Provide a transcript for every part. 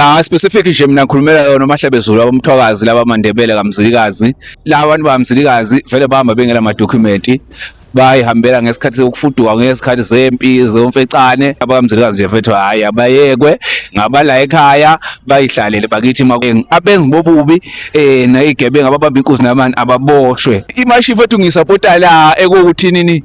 Ah specific nje mina ngikhulumela yona uMahlabezulu abamthwakazi laba mandebele kaMzilikazi laba bantu baMzilikazi vele bahamba bengela ma document bayihambela ngesikhathi sokufuduka ngesikhathi zempi zomfecane abamzilikazi nje mfethu hayi abayekwe ngabala ekhaya bayihlalele bakithi makweng abenzi bobubi eh nayigebenga ababamba inkuzi namani ababoshwe imashi mfethu ngisapota la ekuwuthini ni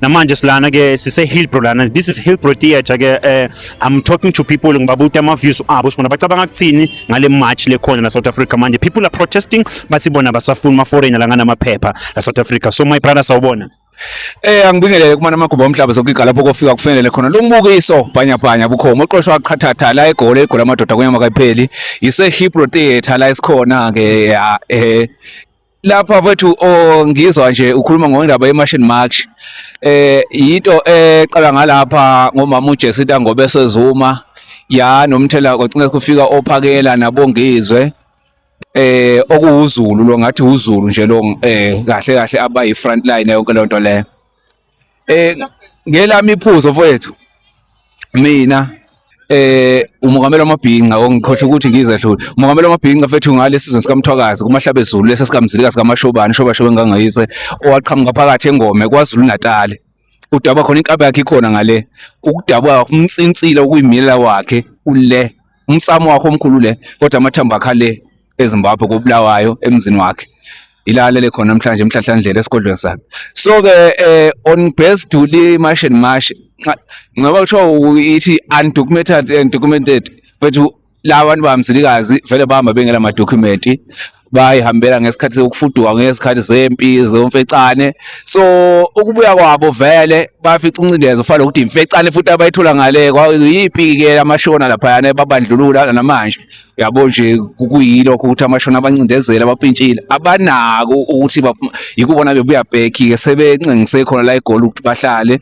namanje silana ke sise Hillbrow lana this is Hillbrow theater ke uh, I'm talking to people ngibabuta ama views abo sibona bacabanga kuthini ngale march le khona la South Africa manje people are protesting bathi bona basafuna ama foreigner la ngana maphepha la South Africa so my brother sawubona Eh angibingelele kumana amagumba omhlaba sokugiga lapho kofika kufanele khona lo mbukiso bhanya bhanya bukhoma oqoshwa qhathatha la egoli egoli amadoda kunyama kayipheli yise Hebrew Theatre la isikhona ke eh lapha mfethu oh, ngizwa nje ukhuluma ngendaba yemashini march eh yinto eqala ngalapha ngomama uJesu Ntangobe sezuma ya nomthela kwacinga kufika ophakela nabongizwe eh okuwuzulu lo ngathi uzulu nje lo eh kahle kahle abayi front line yonke lonto le Eh ngelami iphuzo mfowethu. Mina eh umongameli wamabhinca ongikhohle ukuthi ngizehlule umongameli wamabhinca fethu ngale sizwe sikamthwakazi kumahlabe ezulu lesa sikamzilika sikamashobani shoba shoba engangayise owaqhamuka phakathi engome kwaZulu Natal udaba khona inkaba yakhe ikhona ngale ukudabwa umnsinsile okuyimilela wakhe ule umsamo wakho omkhulu le kodwa amathambo akha le eZimbabwe koBulawayo emzini wakhe ilalele khona namhlanje emhlahlandlela esigodlweni sakhe so ke eh, on base duli mash and mash ngoba kuthiwa ithi undocumented and documented bethu laba bantu bamzilikazi vele bahamba bengela madokhumenti bayihambela ngesikhathi sokufuduka ngesikhathi zempi zomfecane so ukubuya kwabo vele bafica uncidezo ufana nokuthi imfecane futhi abayithola ngale kwayiphi-ke amashona laphayana babandlulula namanje yabo nje kuyilokho ukuthi amashona abancindezela abapintshile abanako ukuthi yikubona bebuya back ke sebencengise khona la egoli ukuthi bahlale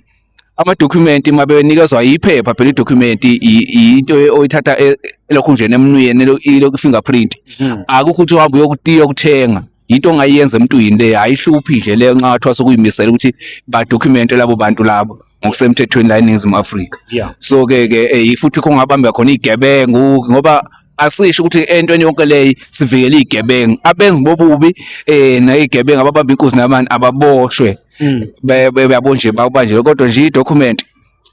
amadokhumenti uma benikezwa yiphepha phela idokhumenti into oyithatha e, elokhu nje nemnuyeni ilokhu fingerprint hmm. akukho ukuthi uhambe uyokuthenga into ongayenza emntwini le ayihluphi nje leyo nxa wathiwa sokuyimisela ukuthi badocumente labo bantu labo ngokusemthethweni la eNingizimu Afrika yeah. so ke ke eh, futhi kungabamba khona igebengu ngoba asisho ukuthi entweni yonke leyi sivikele igebengu abenzi bobubi eh nayigebengu ababamba inkuzi nabantu ababoshwe mm. beyabo nje bawubanje kodwa nje idocument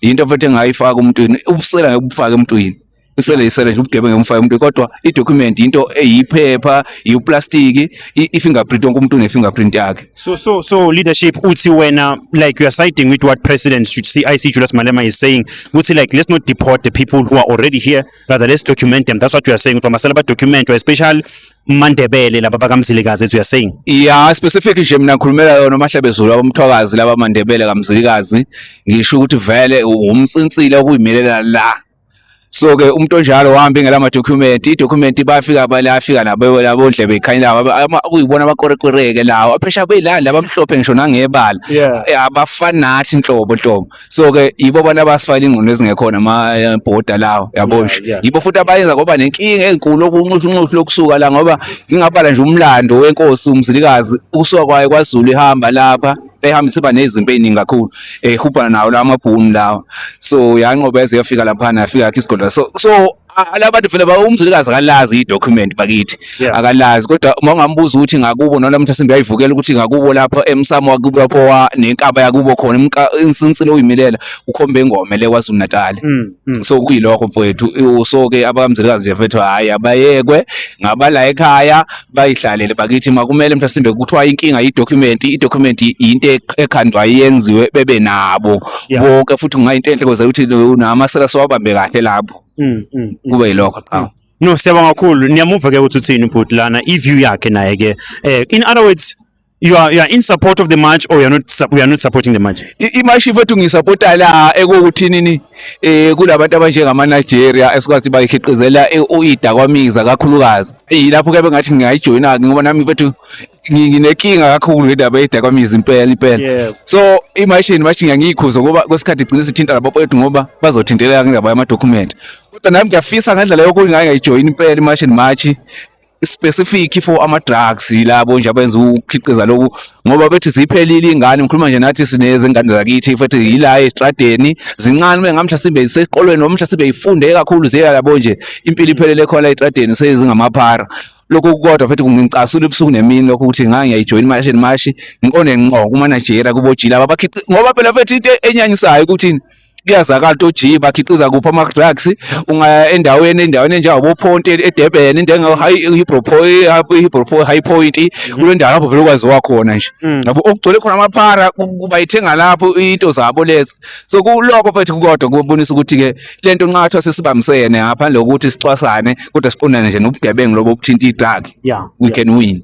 yinto futhi engayifaka umntwini ubusela ngekubufaka emntwini isele isele nje ubugebengu emfaya umuntu kodwa i-document into eyiphepha yiwuplastiki i-fingerprint wonke umuntu une-fingerprint yakhe so so so leadership uthi wena like you are siding with what president should see i see julius malema is saying ukuthi like let's not deport the people who are already here rather let's document them that's what you are saying ukuthi masela badocumentwa especially mandebele laba bakamzilikazi as you are saying yeah specific nje mina ngikhulumela yona mahlabezulu abamthwakazi laba mandebele kamzilikazi ngisho ukuthi vele umsinsile okuyimelela la so ke umuntu onjalo wahamba ingela ama document i document bafika balafika nabo labo ndlebe ikhanyela kuyibona abakorekoreke lawo aphesha beyilani labamhlophe ngisho nangebala eh, abafani nathi inhlobo nhlobo so ke yibo abantu abasifayile ingqondo ezingekhona ama eh, border lawo yabo nje yibo futhi abayenza ngoba nenkinga enkulu okunxusha unxusha lokusuka la ngoba ngingabala nje umlando wenkosi umzilikazi ukusuka kwayo kwaZulu ihamba lapha ehambe isiba nezinto eziningi kakhulu ehubhana nawo la mabhunu lawa so yanqoba yaze yafika laphana yafika yakhe isigodla so so a- laba bantu vele ba- umzilikazi akalazi i-document bakithi Yeah. akalazi kodwa uma ungambuza ukuthi ngakubo noma mntu asembe yayivukela ukuthi ngakubo lapho emsamo wakubo lapho wa- nenkaba yakubo khona imka- insinsile oyimilela ukhombe ingome le kwazulu natali Mm, mm. so kuyilokho mfowethu so-ke abamzilikazi nje mfethu hhayi abayekwe ngabala ekhaya bayidlalele bakithi makumele mhlasimbe kuthiwa inkinga yidocument idocument yinto ekhandwa yenziwe bebe nabo Yeah. bonke futhi kungayinto enhle koze ukuthi namasela siwabambe kahle lapho Mm, mm. kube yilokho qhawe No, siyabonga kakhulu. Niyamuva ke ukuthi uthini ubhuti lana, i-view yakhe naye ke. Eh in other words, you are, you are in support of the march or you are not we are not supporting the march imashi ifethu ngisupporta la ekuthi nini eh kulabantu abanjengama Nigeria esikwazi bayikhiqizela uida kwamiza kakhulukazi ilapho ke bengathi ngiyayijoyina ngoba nami ifethu nginenkinga kakhulu ngendaba yeda kwamiza impela impela so imashi imashi ngiyikhuza ngoba kwesikhathi igcina sithinta labo kwethu ngoba bazothinteleka ngendaba yama document kodwa nami ngiyafisa ngendlela yokuthi ngayijoyina impela imashi imashi specific for ama drugs yilabo nje abenza ukhiqiza lokhu ngoba bethi ziphelile ingane ngikhuluma nje nathi sinezingane zakithi futhi yila estradeni zincane uma ngamhla sibe isekolweni noma mhla sibe ifunde kakhulu ziya labo nje impilo iphelele khona estradeni sezingamaphara lokho kodwa futhi kungicasula ubusuku nemini lokho ukuthi ngake ngiyayijoyina imashi nemashi ngiqonde ngqo kumanajera kubojila abakhiqiza ngoba phela futhi into enyanyisayo ukuthi kuyazakala ukuthi ojiyi bakhiqiza kuphi ama-drugs ungaya endaweni endaweni enjengabophonti edurban into high point mm. kule ndawo lapho vele ukwaziwa khona nje mm. yabo okugcwele khona amaphara bayithenga lapho into zabo lezi so kulokho futhi kodwa kubonisa ukuthi-ke le nto nxa kuthiwa sesibambisene ngaphandle kokuthi sicwasane kodwa siqondane nje nobugebengu lobo obuthinta i-drug we can win